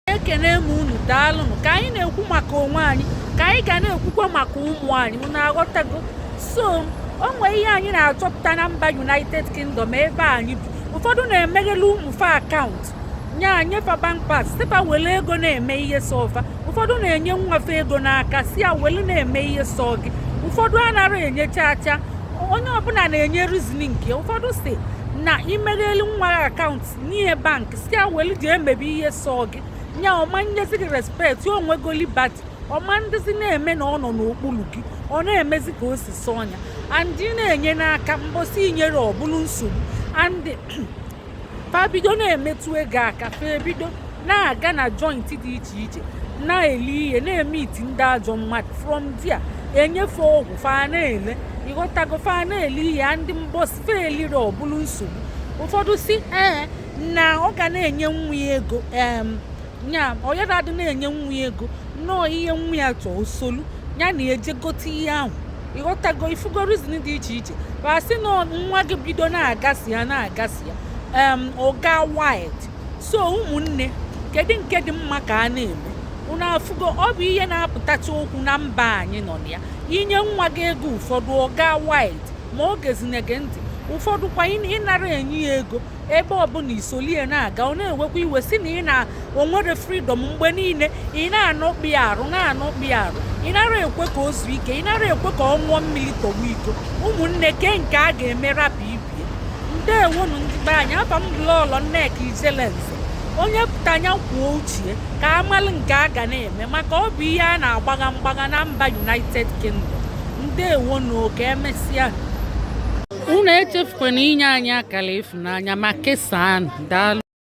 ekene m unu daalụnụ ka anyị na-ekwu maka onwe anyị ka anyị ga na-ekwukwa maka ụmụ anyị unu aghọtago so o nwee ihe anyị na-achọpụta na mba united kingdom ebe anyị bi ụfọdụ na-emegheli ụmụ fa akaụntụ na-enye fa bank pass sị fa were ego na-eme ihe sọ fa ụfọdụ na-enye nwa fa ego n'aka sị ya were na-eme ihe sọ gị ụfọdụ anaghị enye chaa chaa onye ọbụla na-enye rizin nke ụfọdụ sị na imegheli nwa akaụntụ nye ya bank sị ya welu ji emebe ihe sọ gị nya ọ ma nyezi gị respekt ya o nwego liberty ọ ma dịzi na-eme na ọ nọ n'okpuru gị ọ na-emezi ka o si sọ nya and ị na-enye n'aka mbọsị i nyere ọ bụlụ nsogbu and fa bido na-emetụ ego aka fa ebido na-aga na jointi dị iche iche na-eli ihe na-emiti ndị ajọ mmadụ from dia enye fa ọgwụ fa na-ele ị ghọtago fa na-ele ihe ndị mbọsị fa elire ọ bụrụ nsogbu ụfọdụ sị ee na ọ ga na-enye nwa ya ego em ya ọ yara adị na-enye nwa ya ego nnọọ ihe nwa ya chọọ o solu ya na-eje gote ihe ahụ ị ghọtago ị fụgo rizin dị iche iche fa sị na nwa gị bido na-agasị ya na-agasị ya em ọ gaa wild so ụmụnne kedu nke dị mma ka a na-eme unu afụgo ọ bụ ihe na-apụtacha okwu na mba anyị nọ na ya i nye nwa gị ego ụfọdụ ọ gaa wild ma ọ gezinye gị ntị ụfọdụ kwa ị nara enye ya ego ebe ọbụla i soli ya na-aga ọ na-ewekwa iwe sị na ị na o nwere fridọm mgbe niile ị na-anọkpi arụ na-anọkpi arụ ị nara ekwe ka o zuo ike ị nara ekwe ka ọ ṅụọ mmiri tọwa iko ụmụnne kee nke a ga-eme rapụ ibe ya ndewonụ ndị be anyị afa m bụ lọọlọ nneka ijelenze onye pụta nya kwuo uche ka a malụ nke a ga na-eme maka ọ bụ ihe a na-agbagha mgbagha na mba united kingdom ndewonụ oke emesịa unu echefukwana inye anyị akara ịfụnanya ma kesaa daalụ